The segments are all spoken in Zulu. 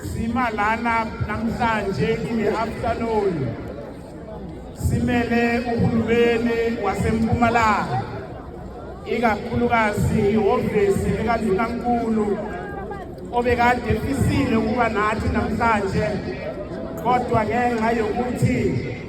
Sima lana namhlanje in the afternoon simele uhulumeni waseMpumalanga ikakhulukazi ihhovisi likaNdunankulu obekade fisile ukuba nathi namhlanje kodwa ngenxa yokuthi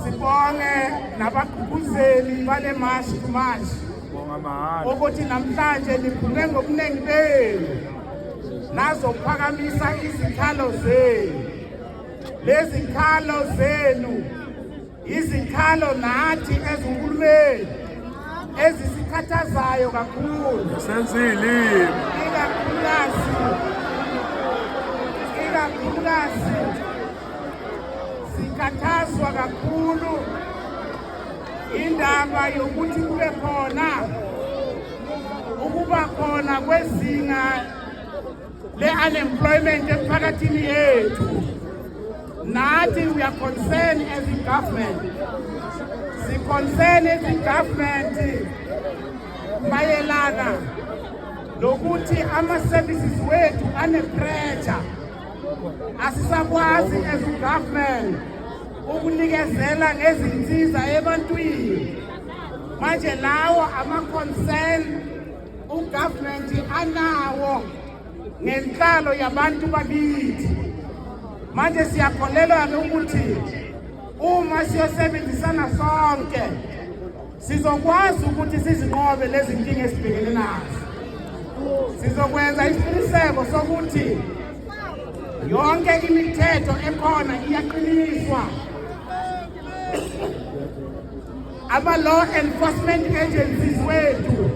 Sibonge nabagqugquzeli bale mashi kumashi ukuthi namhlanje niphume ngobuningi benu nazokuphakamisa izikhalo zenu. Lezi khalo zenu izikhalo nathi ezinkulumeni ezisikhathazayo kakhulu. Senzile. Ikakhulukazi. Ikakhulukazi. Sikhathazwa kakhulu indaba yokuthi kube khona ukuba khona kwezinga le-unemployment emphakathini yethu nathi we are concerned as a government siconcern as a government mayelana nokuthi ama-services wethu anepressure asisakwazi as government ukunikezela ngezinsiza ebantwini manje lawo ama-concern ugovernment anawo ngenhlalo yabantu bakithi manje siyakholelwa-ke ukuthi uma siyosebenzisana sonke Sizokwazi ukuthi sizinqobe lezi nkinga esibhekene nazo. Sizokwenza isiqiniseko sokuthi yonke imithetho ekhona iyaqiniswa. Ama-law enforcement agencies wethu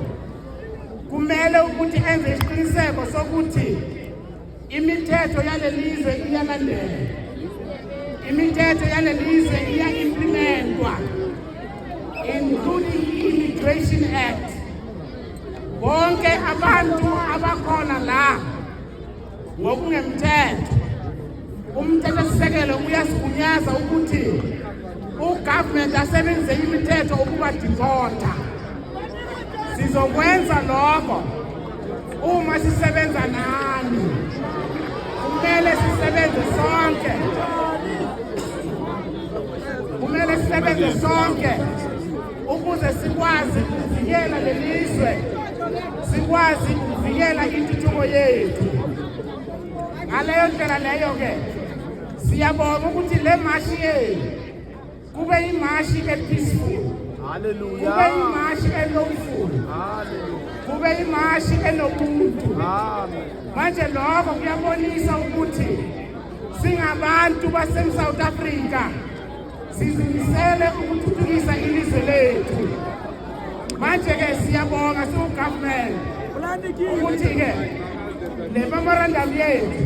kumele ukuthi enze isiqiniseko sokuthi Imithetho yalelizwe iyalandelwa. Imithetho yalelizwe iya implementwa including Immigration Act. Bonke abantu abakhona la ngokungemthetho umthethosisekelo uyasigunyaza ukuthi ugovernment asebenzise imithetho ukuba deporter Sizokwenza lokho uma sisebenza nani. Kumele sisebenze sonke. Kumele sisebenze sonke ukuze sikwazi ukuvikela lelizwe. Sikwazi ukuvikela intuthuko yethu. Ngaleyo ndlela leyo ke siyabonga ukuthi le mashi yethu kube imashi epeaceful haleluya kube imashi elomful haleluya kube imashi enobuntu amen manje lokho kuyabonisa ukuthi singabantu baseSouth Africa sizimisele ukuthuthukisa ilizwe lethu manje ke siyabonga siwugovernment ukuthi ke le memorandum yethu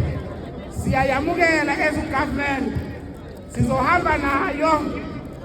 siyayamukela as government sizohamba nayo